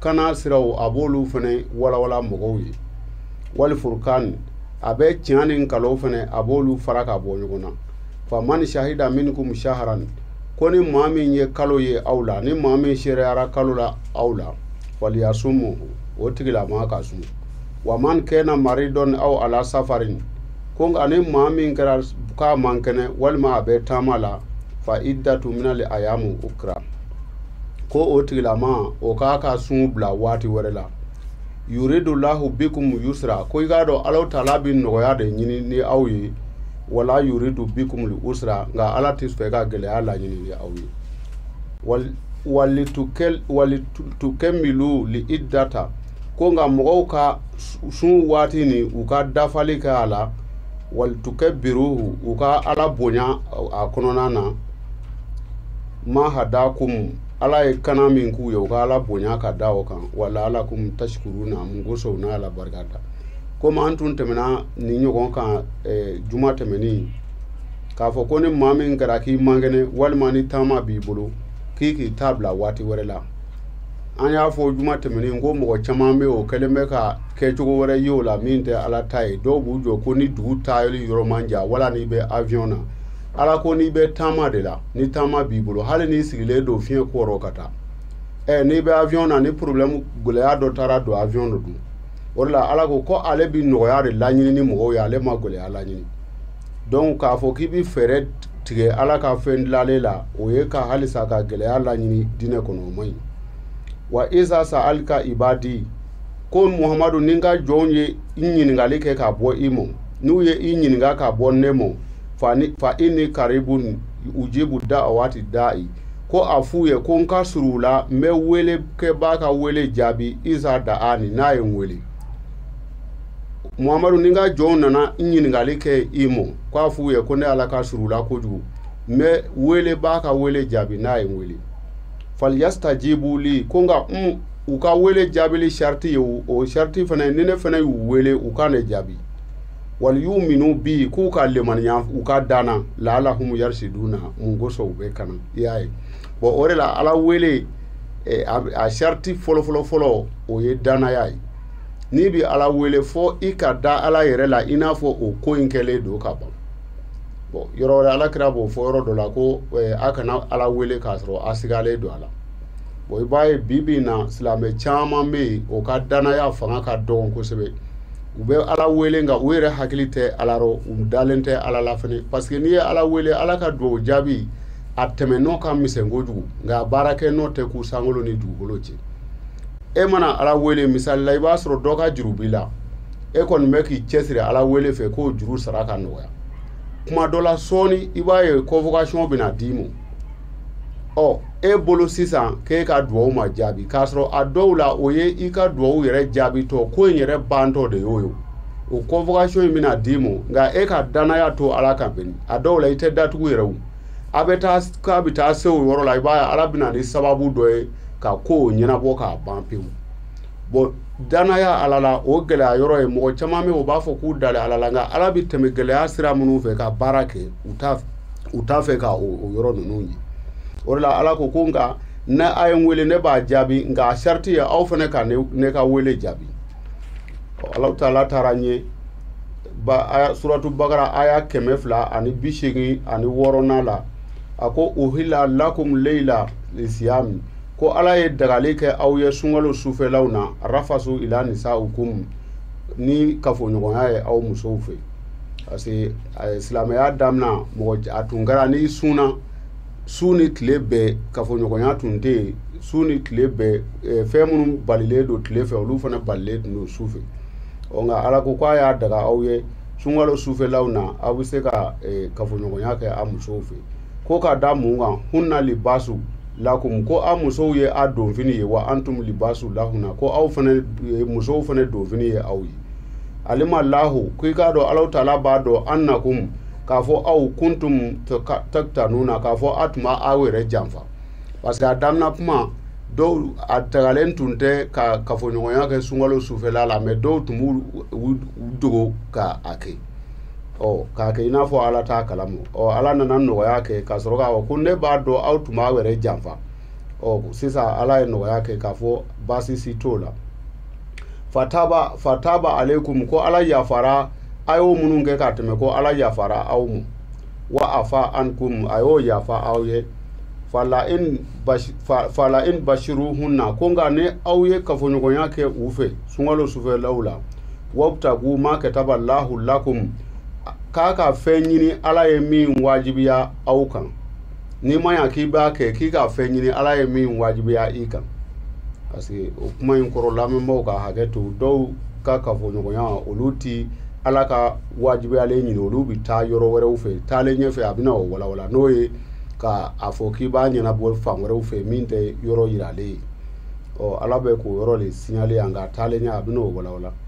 kana siraw a b'olu fana walawala mɔgɔw ye wali furukan a bɛ tiɲɛ ni nkalon fana a b'olu fara ka bɔ ɲɔgɔn na fa man sahida minkum shaharan ko ni maa min ye kalo ye aw la ni maa min seereyara kalo la aw la faliyasumu o tigilama ka sun wa man kana maridan aw ala safarin ko nka ni maa min kɛra k'a man kɛnɛ walima a bɛ taama la fa iddatu minali ayamu ukra ko o tigilama o k'a ka sun bila waati wɛrɛ la yuridu lahu bikum yusra ko i k'a dɔn alahu taala bɛ nɔgɔya de ɲini ni aw ye wala yuridu bikum li usra nka ala tɛ fɛ ka gɛlɛya laɲini ni aw ye walitukɛmilu li iddata ko nka mɔgɔw ka sun waati ni u ka dafali kɛ a la walitukɛbiruhu u ka ala bonya a kɔnɔna na ma hadakum ala ye kana min k'u ye u ka ala bonya ka da o kan wa laalakum tasikuruna mun kosɔn n'a ala barika da komi an tun tɛmɛna nin ɲɔgɔn kan eh, juma tɛmɛnen k'a fɔ ko ni maa min kɛra k'i man kɛnɛ walima ni taama b'i bolo k'i k'i ta bila waati wɛrɛ la an y'a fɔ juma tɛmɛnen ko mɔgɔ caman bɛ o kɛlen bɛ ka kɛcogo wɛrɛ ye o la min tɛ ala ta ye dɔw b'u jɔ ko ni dugu taali yɔrɔ man jan wala n'i bɛ avion na ala ko n'i bɛ taama de la ni taama b'i bolo hali n'i sigilen don fiɲɛ kɔrɔ ka taa ɛ n'i bɛ avion na ni problème gɛlɛya dɔ taara don avion dɔ dun o de la ala ko ko ale bi nɔgɔya de laɲini ni mɔgɔw ye ale ma gɛlɛya laɲini donc k'a fɔ k'i b'i fɛɛrɛ tigɛ ala ka fɛn dilalen la o ye ka halisa ka gɛlɛya laɲini diinɛ kɔnɔ o man ɲi wa iza saalaka ibadi ko muhamadu ni n ka jɔnw ye i ɲininkali kɛ ka bɔ i mɔ n'u ye i ɲininka ka bɔ ne mɔ fa inni karibun ujibu daawati dayi ko a f'u ye ko n ka surun u la n bɛ welekɛbaa ka wele jaabi iza daani n'a ye n wele muhamadu ni n ka jɔnw nana n ɲininkali kɛ i ma ko a f'u ye ko ne ala ka surun u la kojugu n bɛ welebaa ka wele jaabi n'a ye n wele faliyasitajibu li ko nka n u ka wele jaabili sarati ye o sarati fana ni ne fana y'u wele u ka ne jaabi waliyuminu bi k'u ka limaniya u ka da n na laalahum yarisiduna mun kosɔn u bɛ kana i y'a ye bon o de la ala wele eh, a sarati fɔlɔfɔlɔ fɔlɔ o ye dannaya ye n'i bɛ ala wele fɔ i ka da ala yɛrɛ la i n'a fɔ o ko in kɛlen don ka ban bon yɔrɔ wɛrɛ ala kira b'o fɔ yɔrɔ dɔ la ko eh, a kana ala wele k'a sɔrɔ a sigalen don a la bon i b'a ye bi bi in na silamɛ caman bɛ yen o ka danaya fanga ka dɔgɔn kosɛbɛ u bɛ ala wele nka u yɛrɛ hakili tɛ ala rɔ u dalen tɛ ala la fɛnɛ parce que n'i ye ala wele ala ka dugawu jaabi a tɛmɛnɔ ka misɛn kojugu nka a baarakɛnɔ tɛ kun sankolo ni dugukolo cɛ e mana ala wele misali la i b'a sɔrɔ dɔ ka juru b'i la e kɔni bɛ k'i cɛsiri ala wele fɛ k'o juru sara ka nɔgɔya kuma dɔ la sɔɔni i b'a ye convocation bɛna d'i ma ɔ e bolo sisan k'e ka dugawu ma jaabi k'a sɔrɔ a dɔw la o ye i ka dugawu yɛrɛ jaabitɔ ko in yɛrɛ bantɔ de y'o ye o convocation in bɛna d'i ma nka e ka danaya to ala kan bɛni a dɔw la i tɛ datugu yɛrɛ o a bɛ taa k'a bɛ taa se o yɔrɔ la i b'a ye ala bɛ na ni sababu dɔ ye ka ko ɲɛnabɔ k'a ban pewu bon danaya ala la o gɛlɛya yɔrɔ ye mɔgɔ caman bɛ o b'a fɔ k'u dalen ala la nka ala bɛ tɛmɛ gɛlɛya sira minnu fɛ ka baara kɛ u t'a fɛ u t'a fɛ k' o yɔrɔ ninnu ye o de la ala ko ko nka ni a ye n weele ne b'a jaabi nka a sariti ye aw fana ka ne ka weele jaabi alahu taala taara n ye suratu bakara aya kɛmɛ fila ani bi seegin ani wɔɔrɔnan la a ko uhilla lakum leyila lisiyami ko ala ye dagali kɛ aw ye sunkalo sufɛlaw na arafasu ila nisaukum ni kafoɲɔgɔnya ye aw musow fɛ parce que eh, silamɛya damina mɔgɔ a tun kɛra n'i sunna su ni tile bɛɛ kafoɲɔgɔnya tun tɛ yen su ni tile bɛɛ eh, fɛn minnu balilen don tile fɛ olu fana balilen tun don su fɛ ɔ nka ala ko k'a y'a daga aw ye sunkalo sufɛlaw na aw bɛ se ka eh, kafoɲɔgɔnya kɛ a musow fɛ ko ka da mun kan hunna libasu lakum ko a musow ye a donfini ye wa antum libasu lahunna ko aw fana eh, musow fana donfini ye aw ye alima lahu ko i k'a dɔn alahu taala b'a dɔn annakum k'a fɔ aw kuntum taktanuna k'a fɔ a tun b'aw yɛrɛ janfa parce que a daminɛ kuma dɔw a dagalen tun tɛ ka kafoɲɔgɔnya kɛ sunkalo sufɛla la mais dɔw tun b'u dogo ka a kɛ ɔ k'a kɛ i n'a fɔ ala t'a kalama ɔ ala nana nɔgɔya kɛ ka sɔrɔ k'a fɔ ko ne b'a dɔn aw tun b'aw yɛrɛ janfa ɔ sisan ala ye nɔgɔya kɛ k'a fɔ baasi si t'o la fataba fataba aleikum ko ala yafara a y'o minnu kɛ ka tɛmɛ ko ala yafara aw ma wa afa ankum a y'o yafa aw ye fala in fala in bashiruhunna ko nka ni aw ye kafoɲɔgɔnya kɛ u fɛ sunkalo sufɛlaw la wabtagu ma kataba lahu lakum k'a ka fɛn ɲini ala ye min wajibiya aw kan n'i ma ɲa k'i b'a kɛ k'i ka fɛn ɲini ala ye min wajibiya i kan parce que o kuma in kɔrɔ lamɛnbaaw ka hakɛ to dɔw ka kafoɲɔgɔnya olu ti ala ka wajibiyalen ɲini olu bɛ taa yɔrɔ wɛrɛw fɛ taalen ɲɛfɛ a bɛna o walawala n'o ye ka a fɔ k'i b'a ɲɛnabɔ fan wɛrɛw fɛ min tɛ yɔrɔ yiralen ye ɔ ala bɛ k'o yɔrɔ de signaler yan nka taalen ɲɛ a bɛna o walawala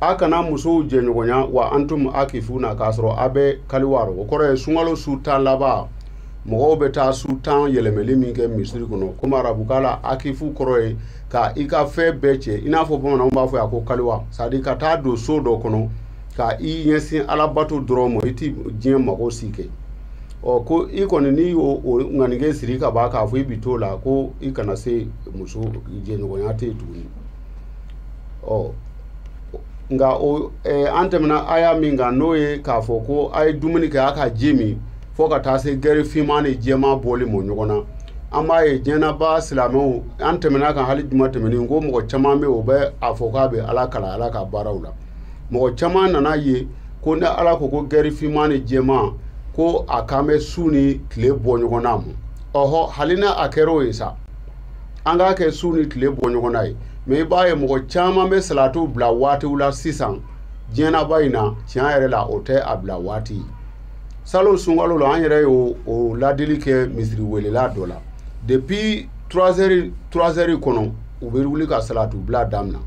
a kana musow jɛɲɔgɔnya wa antum akifuna k'a sɔrɔ a bɛ kaliwa rɔ o kɔrɔ ye sunkalo su tan laban mɔgɔw bɛ taa su tan yɛlɛmɛli min kɛ misiri kɔnɔ komi arabukan la akifu kɔrɔ ye ka i ka fɛn bɛɛ cɛ i n'a fɔ bamananw b'a fɔ a ko kaliwa c'est à dire ka taa don so dɔ kɔnɔ ka i ɲɛsin alabato dɔrɔn ma i ti diɲɛ mago si kɛ ɔ ko i kɔni n'i y'o ŋanige siri ka ban k'a fɔ i bi t'o la ko i kana se muso jɛɲɔgɔnya tɛ yen tuguni ɔ nka o eh, an tɛmɛna aya min kan n'o ye k'a fɔ ko a ye dumuni kɛ a ka ji min fo ka taa se gɛri finman ni jɛman bɔli ma ɲɔgɔn na an b'a ye diɲɛnaba silamɛw an tɛmɛna a kan hali juma tɛmɛnen ko mɔgɔ caman bɛ yen o bɛ a fɔ k'a bɛ ala kalan ala ka baaraw la mɔgɔ caman nana ye ko ni ala ko ko gɛri finman ni jɛman ko a kan bɛ su ni tile bɔ ɲɔgɔn na ma ɔhɔ hali ni a kɛra o ye sa an k'a kɛ su ni tile bɔ ɲɔgɔn na ye mais i b'a ye mɔgɔ caman bɛ salatu bila waatiw la sisan diɲɛnaba in na tiɲɛ yɛrɛ la o tɛ a bila waati salon sunkalo la an yɛrɛ ye o ladili kɛ misiri welela dɔ la depuis trois heures kɔnɔ u bɛ wuli ka salatu bila daminɛ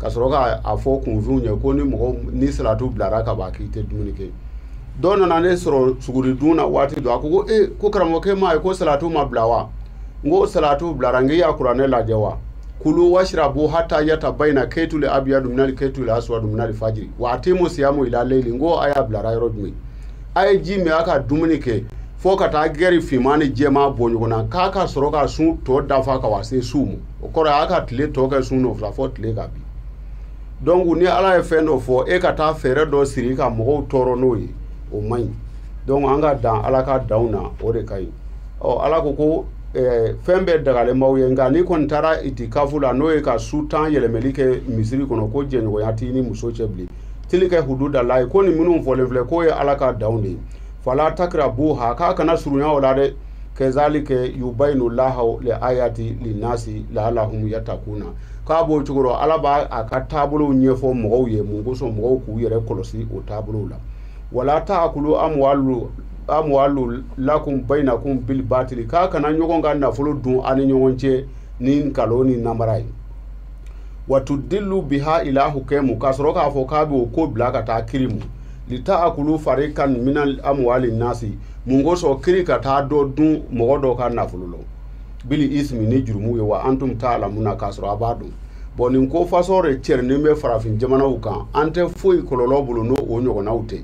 ka sɔrɔ ka a fɔ kunfinw ye ko ni mɔgɔ ni salatu bilara ka ban k'i tɛ dumuni kɛ dɔ nana ne sɔrɔ suguri dun na waati dɔ a ko ko e ko karamɔgɔkɛ m'a ye ko salatu ma bila wa n ko salatu bilara n k'i y'a kuranɛ lajɛ wa kulu washrabu hatta yatabayna kaytul abyadu min al kaytul aswadu min al fajri wa atimu siyamu ila layli n ko aya bilara yɔrɔ jumɛn a ye ji min a ka dumuni kɛ fo ka taa gɛri finman ni jɛman bɔ ɲɔgɔn na k'a ka sɔrɔ ka sun tɔ dafa ka wa se su ma o kɔrɔ ye a ka tile tɔ kɛ sun nɔfɛ fɔ tile ka bin donc ni ala ye fɛn dɔ fɔ e ka taa fɛɛrɛ dɔ siri ka mɔgɔw tɔɔrɔ n'o ye o man ɲi donc an ka dan ala ka danw na o de ka ɲi ɔ ala ko ko eh, fɛn bɛɛ dagalen b'aw ye nka n'i kɔni taara itikafu la n'o ye ka su tan yɛlɛmɛli kɛ misiri kɔnɔ ko jɛɲɔgɔnya t'i ni muso cɛ bilen tilikɛ hududalaye ko nin minnu fɔlen filɛ k'o ye ala ka danw de ye fala takirabuha k'a kana surunya o la dɛ kɛzalike yubayinu lahu le ayati linnasi lahalahum yatakuna k'a b'o cogo rɔ ala b'a ka taabolow ɲɛfɔ mɔgɔw ye mun kosɔn mɔgɔw k'u yɛrɛ kɔlɔsi o taabolow la wala ta akulu amwalu lakum bainakum bil batili k'a kana ɲɔgɔn ka nafolo dun a ni ɲɔgɔn cɛ ni nkalon ni namara ye watudillu biha ila hukemu k'a sɔrɔ k'a fɔ k'a bɛ o ko bila ka taa kiri mu lita akulu farikan min amwali nasi mun kosɔn kiri ka taa dɔ dun mɔgɔ dɔ ka nafolo la bil ismi ni jurumu ye wa antum taalamuna k'a sɔrɔ a b'a dɔn bɔn nin ko fasɔn de cɛrinin bɛ farafin jamanaw kan an tɛ foyi kɔlɔlɔ bolo n'o o ɲɔgɔnnaw tɛ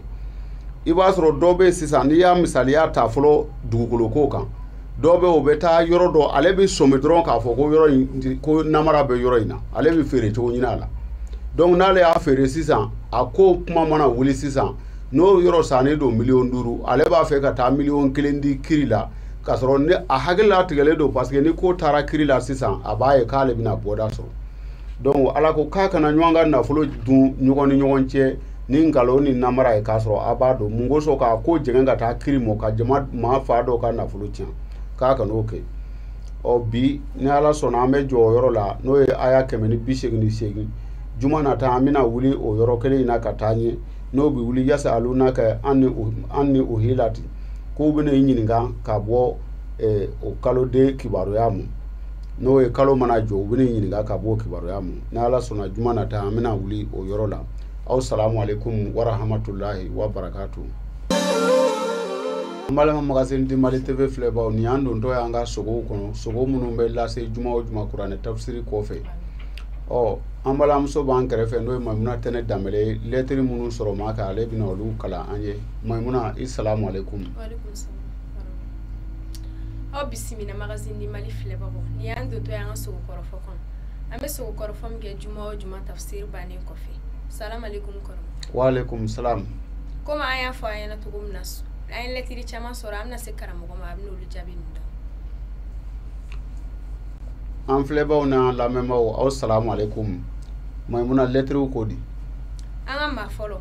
i b'a sɔrɔ dɔ bɛ sisan n'i y'a misaliya ta fɔlɔ dugukolo ko kan dɔ bɛ o bɛ taa yɔrɔ dɔ ale bɛ sɔmi dɔrɔn k'a fɔ ko yɔrɔ in ko namara bɛ yɔrɔ in na ale bɛ feere cogo ɲini a la donc n'ale y'a feere sisan a ko kuma mana wuli sisan n'o yɔrɔ sannen don miliyɔn duuru ale b'a fɛ ka taa miliyɔn kelen di kiri la k'a sɔrɔ ni a hakili latigɛlen don parce que ni ko taara kiri la sisan a b'a ye k'ale bɛna bɔda sɔrɔ donc ala ko k'a kana ɲɔgɔn ka nafolo dun ɲɔgɔn ni ɲɔgɔn cɛ ni nkalon ni namara ye k'a sɔrɔ a b'a dɔn mun kosɔn k'a ko jɛngɛn ka taa kiri mɔ ka jama maa fan dɔw ka nafolo tiɲɛ k'a kan'o kɛ ɔ bi ni ala sɔnna an bɛ jɔ o yɔrɔ la n'o ye aya kɛmɛ ni bi seegin ni seegin juma nata an bɛna wuli o yɔrɔ kelen in na ka taa ɲɛ n'o bɛ wuli yasaalunaka anil ahilati k'u bɛna i ɲininka ka bɔ o kaloden kibaruya ma n'o ye kalo mana jɔ u bɛna i ɲininka ka bɔ kibaruya ma n' ala sɔnna juma nata an bɛna wuli o yɔrɔ la aw salamu aleykum wa rahamatulayi wa barakatu an balima magazine du mali tv filɛbaw ni an dontɔ y' an ka sogow kɔnɔ sogo minnu bɛ lase juma o juma kuranɛ tafsiri kɔfɛ ɔ an balimamuso b'an kɛrɛfɛ n'o ye maimuna tɛnɛ danbele ye lɛtiri minnu sɔrɔ ma kan ale bɛna olu kalan an ye Maimouna, i salam alaikum. Wa alaikum salam. Aw bisimila magazine du Mali filɛbagaw ni an dontɔ y'an ka sogo kɔrɔfɔ kɔnɔ an bɛ sogo kɔrɔfɔ min kɛ juma o juma tafsir bannen kɔfɛ salam alaikum kɔrɔ. Wa alaikum salam. Komi an y'a fɔ aw ɲɛna cogo min na an ye lɛtiri caman sɔrɔ an bɛna se karamɔgɔ ma a bɛna olu jaabi ninnu an filɛbaaw n'an lamɛnbaaw aw salamu aleykum maimuna lɛtiriw ko di an ka maa fɔlɔ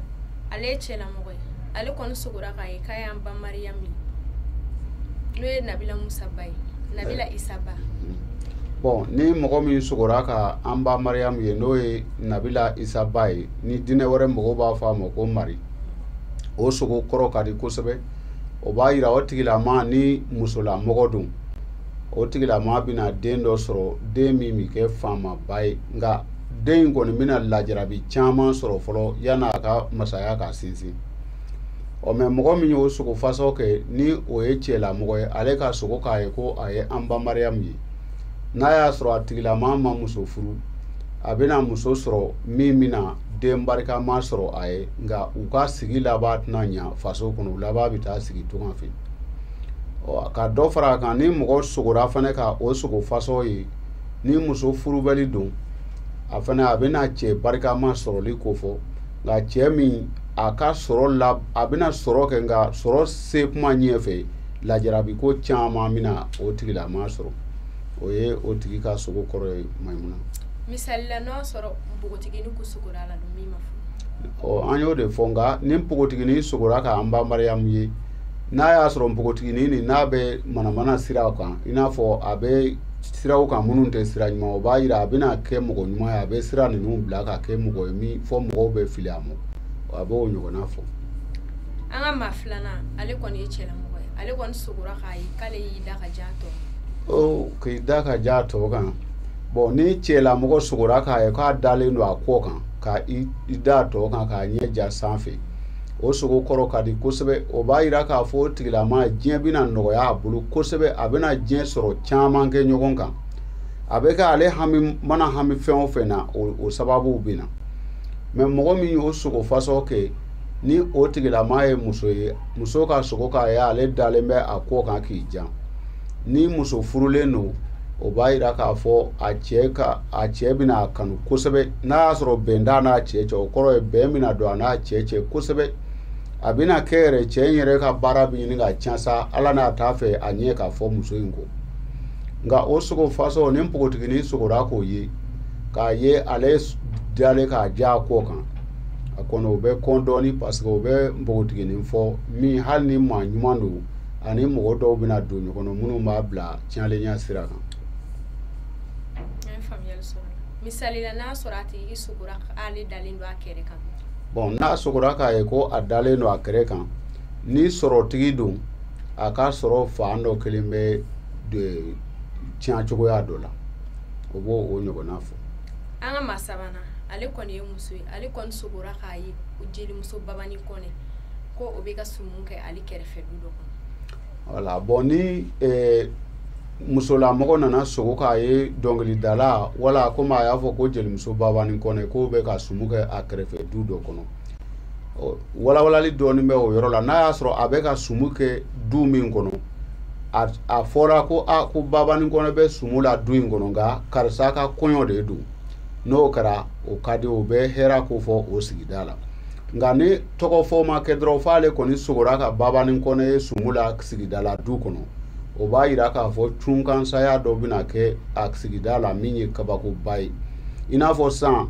ale ye cɛlamɔgɔ ye ale kɔni sogora k'a ye k'a y'an ba mariyamu ye n'o ye nabila musa ba ye nabila isa ba bɔn ni mɔgɔ min sogora ka an ba mariyamu ye n'o ye nabila isa ba ye ni diinɛ wɛrɛ mɔgɔw b'a fɔ a ma ko mari o sogo kɔrɔ ka di kosɛbɛ o b'a yira o tigilama ni musolamɔgɔ don o tigilama bɛna den dɔ sɔrɔ den min bɛ kɛ faamaba ye nka den in kɔni bɛna lajarabi caman sɔrɔ fɔlɔ yan a ka masaya ka sinsin ɔ mɛ mɔgɔ min y'o sogo fasɔ kɛ ni o ye cɛla mɔgɔ ye ale ka sogo k'a ye ko a ye an ba mariyamu ye n'a y'a sɔrɔ a tigilama ma muso furu a bɛna muso sɔrɔ min bɛna den barikama sɔrɔ a ye nka u ka sigi laban tɛna ɲa faso kɔnɔ u laban bɛ taa sigi tunga fɛ ka dɔ fara a kan ni mɔgɔ sogora fana ka o sogo fasɔ ye ni muso furubali don a fana a bɛna cɛ barikama sɔrɔli kofɔ nka cɛ min a ka sɔrɔ la a bɛna sɔrɔ kɛ nka sɔrɔ se kuma ɲɛfɛ lajarabi ko caman bɛna o tigilama sɔrɔ o ye o tigi ka sogo kɔrɔ ye mayimuna misali la n'o sɔrɔ npogotigini ko sogora la don min ma furu ɔ an y'o de fɔ nka ni npogotigini sogora k'an ba mariyamu ye n'a y'a sɔrɔ npogotiginin nin n'a bɛ manamana siraw kan i n'a fɔ a bɛ siraw kan minnu tɛ sira ɲuman o b'a yira a bɛna kɛ mɔgɔ ɲuman ye a bɛ sira ninnu bila ka kɛ mɔgɔ ye min fɔ mɔgɔw bɛ fili a ma a b'o ɲɔgɔnna fɔ an ka maa filanan ale kɔni ye cɛlamɔgɔ ye ale kɔni sogora k'a ye k'ale y'i da ka ja tɔ oh, k'i da ka ja tɔ kan bɔn ni cɛlamɔgɔ sogora k'a ye k'a dalen don a kɔ kan ka i da tɔ kan k'a ɲɛ ja sanfɛ o sogo kɔrɔ ka di kosɛbɛ o b'a yira k'a fɔ o tigilama diɲɛ bɛna nɔgɔya a bolo kosɛbɛ a bɛna diɲɛ sɔrɔ caman kɛ ɲɔgɔn kan a bɛ kɛ ale hami mana hami fɛn o fɛn na o sababuw bɛ na mɛ mɔgɔ min y'o sogo fasɔ kɛ ni o tigilama ye muso ye muso ka sogo k'a ye ale dalen bɛ a kɔ kan k'i jan ni muso furulen don o b'a yira k'a fɔ a cɛ ka a cɛ bɛna a kanu kosɛbɛ n'a y'a sɔrɔ bɛn t'a n'a cɛ cɛ o kɔrɔ ye bɛn bɛna don a n'a cɛ cɛ kosɛbɛ a bɛna kɛ yɛrɛ cɛ in yɛrɛ ka baara bɛ ɲini ka can sa ala n'a t'a fɛ a ɲɛ ka fɔ muso in kɔ nka o sogo fasɔ ni npogotiginin sogora k'o ye k'a ye ale dalen k'a ja a kɔ kan a kɔni o bɛ kɔn dɔɔni parce que o bɛ npogotiginin fɔ min hali ni maa ɲuman don ani mɔgɔ dɔw bɛna don ɲɔgɔn na minnu b'a bila tiɲɛlenya sira kan misali la n'a sɔrɔ a tigi sogora ale dalen don a kɛrɛ kan bɔn n'a sogora k'a ye ko a dalen don a kɛrɛ kan ni sɔrɔtigi don a ka sɔrɔ fan dɔ kelen bɛ tiɲɛ cogoya dɔ la o b'o ɲɔgɔnna fɔ an ka maa sabanan ale kɔni ye muso ye ale kɔni sogora k'a ye jelimuso babani kɔnɛ ko o bɛ ka sumu kɛ ale kɛrɛfɛ du dɔ kɔnɔ voilà bon ni eh, musolamɔgɔ nana sogo k'a ye dɔnkilidala wala komi a y'a fɔ ko jelimuso babani kɔnɛ k'o bɛ ka sumu kɛ a kɛrɛfɛ du dɔ kɔnɔ walawalali dɔɔnin bɛ o yɔrɔ la n'a y'a sɔrɔ a bɛ ka sumu kɛ du min kɔnɔ a fɔra ko a ko babani kɔnɛ bɛ sumu la du in kɔnɔ nka karisa ka kɔɲɔ de don n'o kɛra o ka di o bɛ hɛrɛ ko fɔ o sigida la nka ni tɔgɔ fɔ ma kɛ dɔrɔn f'ale kɔni sogora ka babani kɔnɛ ye sumu la sigida la du kɔnɔ o b'a yira k'a fɔ cunkansaya dɔ bɛna kɛ a sigida la min ye kabakoba ye i n'a fɔ san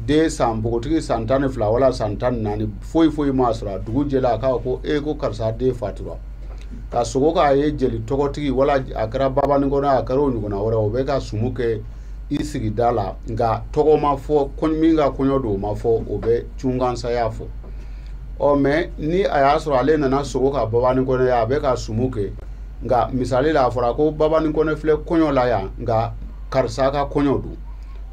den san npogotigi san tan ni fila wala san tan ni naani foyi foyi m'a sɔrɔ a dugu jɛla a k'a ko e ko karisa den fatura ka sogo k'a ye jeli tɔgɔtigi wala a kɛra babani kɔnɛ a kɛra o ɲɔgɔnna wɛrɛ o bɛ ka sumu kɛ i sigida la nka tɔgɔ ma fɔ min ka kɔɲɔ don o ma fɔ o bɛ cunkansaya fɔ ɔ mɛ ni a y'a sɔrɔ ale nana sogo ka babani kɔnɛ ye a bɛ ka sumu kɛ nka misali la a fɔra ko babani kɔnɛ filɛ kɔɲɔ la yan nka karisa ka kɔɲɔ don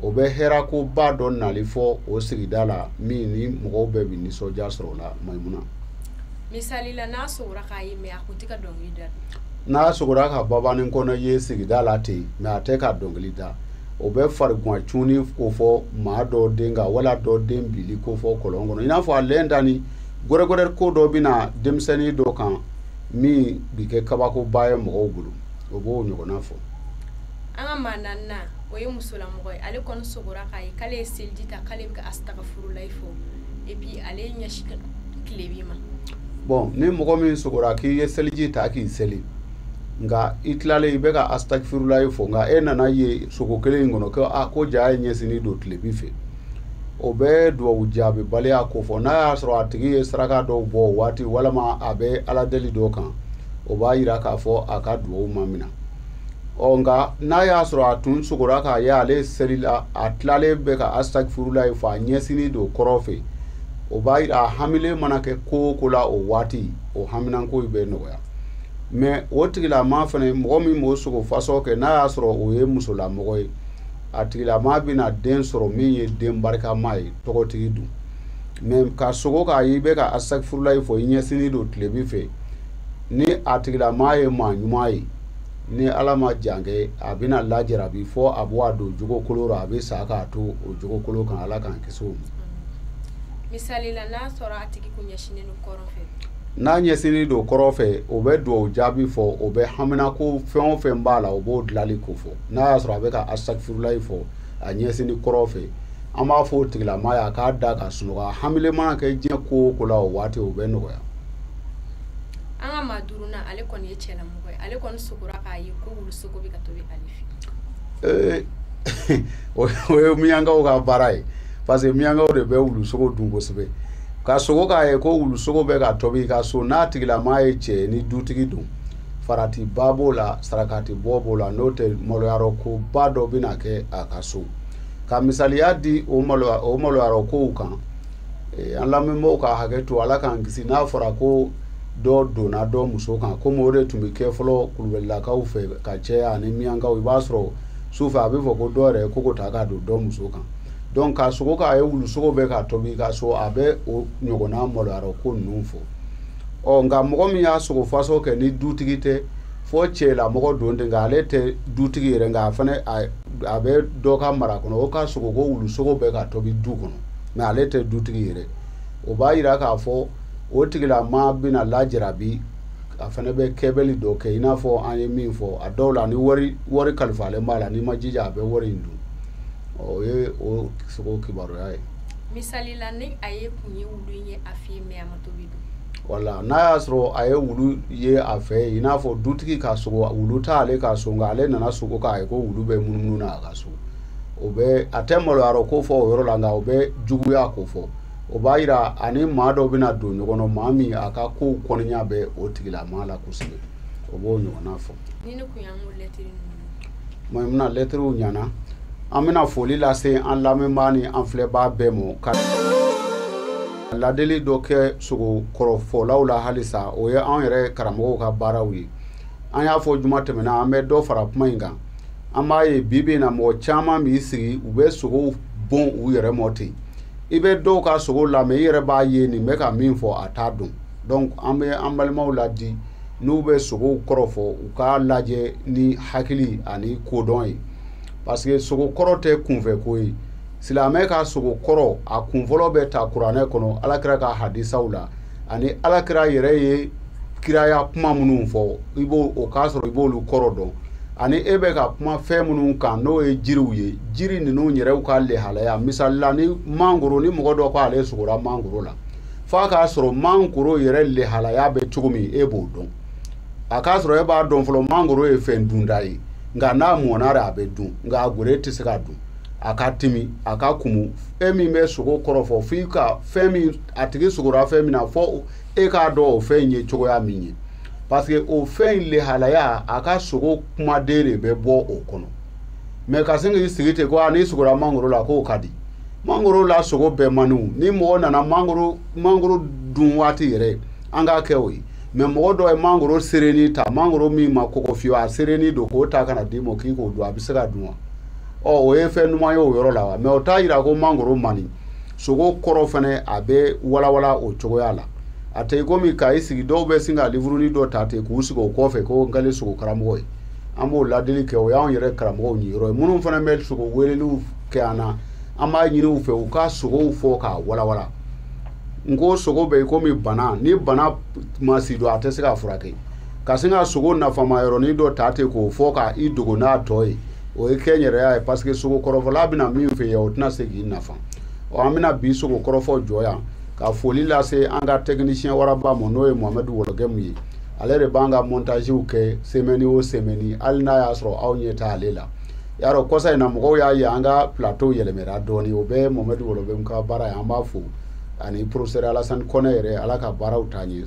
o bɛ hɛrɛkoba dɔ nali fɔ o sigida la min ni mɔgɔw bɛɛ bɛ nisɔndiya sɔrɔ o la maimuna misali la n'a sogora k'a ye mɛ n'a sogora ka babani kɔnɛ ye sigida la ten mɛ a tɛ ka dɔnkili da o bɛ farigwan cunni ko fɔ maa dɔ den kan wala dɔ den bili ko fɔ kɔlɔn kɔnɔ i n'a fɔ a lɛn da ni gɛrɛgɛrɛ ko dɔ bɛna denmisɛnnin dɔ kan min bi kɛ kabakoba ye mɔgɔw bolo o b'o ɲɔgɔnna fɔ an ka maa naaninan o ye musolamɔgɔ ye ale kɔni sogora k'a ye k'ale ye seliji ta k'ale bɛ ka asitagafurulayi fɔ et puis ale ɲɛsin tilebi ma bon ni mɔgɔ min sogora k'i ye seliji ta k'i seli nka i tilalen i bɛ ka asitagafurulayi fɔ nka e nan'a ye sogo kelen in kɔnɔ ko a ah, ko jaa e ɲɛsini don tilebi fɛ o bɛ duwawu jaabibaliya ko fɔ n'a y'a sɔrɔ a tigi ye saraka dɔw bɔ o waati walima a bɛ ala deli dɔ kan o b'a yira k'a fɔ a ka duwawu ma minɛ ɔ nka n'a y'a sɔrɔ a tun sogora k'a ye ale selila a tilalen bɛ ka asitagafurulayi fɔ a ɲɛsini don kɔrɔ fɛ o b'a yira a hamilen mana kɛ ko o ko la o waati o haminanko bɛ nɔgɔya mɛ o tigilama fana mɔgɔ min b'o sogo fasɔ kɛ n'a y'a sɔrɔ o ye musolamɔgɔ ye a tigilama bɛna den sɔrɔ min ye den barikama ye tɔgɔtigi don mɛ ka sogo k'a ye i bɛ ka asitagafurulayi fɔ i ɲɛsini don tilebi fɛ ni a tigilama ye maa ɲuman ye ni ala ma jan kɛ a bɛna lajarabi fɔ a bɛ wa don jogokolon la a bɛ sa k'a to o jogokolon kan ala k'an kisi o ma misali la n'a sɔrɔ a tigi tun ɲɛsinnen don kɔrɔ fɛ n'a ɲɛsinnen don kɔrɔ fɛ o bɛ duwawu jaabi fɔ o bɛ haminako fɛn o fɛn b'a la o b'o dilanli ko fɔ n'a y'a sɔrɔ a bɛ ka asitagafurulayi fɔ a ɲɛsinni kɔrɔ fɛ an b'a fɔ o tigilama ye a k'a da ka sunɔgɔ a hamilen mana kɛ diɲɛ ko o ko la o waati o bɛ nɔgɔya an ka maa duurunan ale kɔni ye cɛlamɔgɔ ye ale kɔni sogora k'a ye ko wulusogo bɛ ka tobi ale fɛ ee o ye miyankaw ka baara ye parce que miyankaw de bɛ wulusogo dun kosɛbɛ ka sogo k'a ye ko wulusogo bɛ ka tobi ka so n'a tigilamaa ye cɛ ni dutigi don faratiba b'o la sarakatibɔ b'o la n'o tɛ maloyarɔ ko ba dɔ bɛna kɛ a ka so ka misaliya di o maloyarɔ kow kan an lamɛnbaaw ka hakɛ to ala k'an kisi n'a fɔra ko dɔ donna dɔ muso kan komi o de tun bɛ kɛ fɔlɔ kulubalilakaw fɛ ka caya ani miyankaw i b'a sɔrɔ su fɛ a bɛ fɔ ko dɔw yɛrɛ ko ko ta ka don dɔ muso kan donc ka sogo k'a ye wulusogo bɛ ka tobi ka so a bɛ o ɲɔgɔnna maloyarɔ ko ninnu fɔ ɔ nka mɔgɔ min y'a sogo fasɔn kɛ ni dutigi tɛ fɔ cɛlamɔgɔ don ten nka ale tɛ dutigi yɛrɛ nka a fana a bɛ dɔ ka mara kɔnɔ o ka sogo ko wulusogo bɛ ka tobi du kɔnɔ mais ale tɛ dutigi yɛrɛ o b'a yira k'a fɔ o tigilamaa bɛna lajarabi a fana bɛ kɛwale dɔ kɛ i n'a fɔ an ye min fɔ a dɔw la ni wari kalifalen b'a la n'i ma jija a bɛ wari in dun o ye o sogo kibaruya ye misali la ni a ye kun ye wulu ye a fɛ mais a ma tobi wala n'a y'a sɔrɔ a ye wulu ye a fɛ i n'a fɔ dutigi ka sogo wulu t'ale ka so nka ale nana sogo k'a ye ko wulu bɛ munumunu na a ka so o bɛ a tɛ maloyarɔ ko fɔ o yɔrɔ la nka o bɛ juguya ko fɔ o b'a yira a ni maa dɔ bɛna don ɲɔgɔn na maa min a ka kow kɔniya bɛ o tigilamaa la kosɛbɛ o b'o ɲɔgɔnna fɔ maimuna lɛtiriw ɲana an bɛna foli lase an lamɛnbaa ni an filɛbaa bɛɛ ma ka ladili dɔ kɛ sogo kɔrɔfɔlaw la halisa o ye an yɛrɛ karamɔgɔw ka baaraw ye an y'a fɔ juma tɛmɛna an bɛ dɔ fara kuma in kan an b'a ye bi bi in na mɔgɔ caman b'i sigi u bɛ sogow bon u yɛrɛ mɔ ten i bɛ dɔw ka sogo lamɛn i yɛrɛ b'a ye nin bɛ ka min fɔ a t'a dɔn donc an bɛ an balimaw ladi n'u bɛ sogow kɔrɔ fɔ u k'a lajɛ ni hakili ani kodɔn ye parce que sogo kɔrɔ tɛ kunfɛ ko ye silamɛ ka sogo kɔrɔ a kunfɔlɔ bɛ ta kuranɛ kɔnɔ ala kira ka hadisaw la ani ala kira yɛrɛ ye kiraya kuma minnu fɔ o k'a sɔrɔ i b'olu kɔrɔ dɔn ani e bɛ ka kuma fɛn minnu kan n'o ye jiriw ye jiri ninnu yɛrɛw ka lehalaya misali la ni mangoro ni mɔgɔ dɔ k'ale sogora mangoro la f'a k'a sɔrɔ mangoro yɛrɛ lehalaya bɛ cogo min e b'o dɔn a k'a sɔrɔ e b'a dɔn fɔlɔ mangoro ye fɛn dunta ye nka n'a mɔna de a bɛ dun nka a geren tɛ se ka dun a ka timi a ka kumu e min bɛ sogo kɔrɔfɔ f'i ka fɛn min a tigi sogora fɛn min na fɔ e k'a dɔn o fɛn ye cogoya min ye parce que o fɛn in lehalaya a ka sogo kumaden de bɛ bɔ o kɔnɔ mɛ ka sin k'i sigi ten ko a n'i sogora mangoro la k'o ka di mangoro la sogo bɛɛ man ɲi ni mɔgɔ nana mangoro dun waati yɛrɛ an k'a kɛ o ye mɛ mɔgɔ dɔ ye mangoro serenni ta mangoro min ma kɔgɔ fiyewu a serenni don k'o ta ka n'a d'i ma k'i k'o dun a bɛ se ka dun wa ɔ o ye fɛn ɲuman ye o yɔrɔ la wa mɛ o t'a yira ko mangoro man ɲi sogo kɔrɔ fɛnɛ a bɛ walawala o cogoya la a tɛ i komi ka i sigi dɔw bɛ sin ka liburunin dɔ ta ten k'u sigi o kɔfɛ ko n kɛlen sogo karamɔgɔ ye an b'o ladili kɛ o y'anw yɛrɛ karamɔgɔw niyɔrɔ ye minnu fɛnɛ bɛ sogo weleliw kɛ an na an b'a ɲini u fɛ u ka sogow fɔ k'a walawala n ko sogo bɛ i komi bana ni bana ma sidɔn a tɛ se ka furakɛ ka sin ka sogo nafama yɔrɔnin dɔ ta ten k'o fɔ ka i dogo n'a tɔ ye o ye kɛnyɛrɛye ye parce que sogo kɔrɔfɔla bɛna min fɔ yen o tɛna se k'i nafa ɔ an bɛna bi sogo kɔrɔfɔ jɔ yan ka foli lase an ka tɛkinisiyɛn waraba ma n'o ye mohamed wologɛmu ye ale de b'an ka montaziw kɛ semɛni o semɛni hali n'a y'a sɔrɔ aw ɲɛ tɛ ale la y'a dɔn kɔsa in na mɔgɔw y'a ye an ka plateau yɛlɛmɛra dɔɔni o bɛɛ ye mohamed wologɛmu ka baara ye an b'a fo ani professeur alasani kɔnɛ yɛrɛ ala ka baaraw taa ɲɛ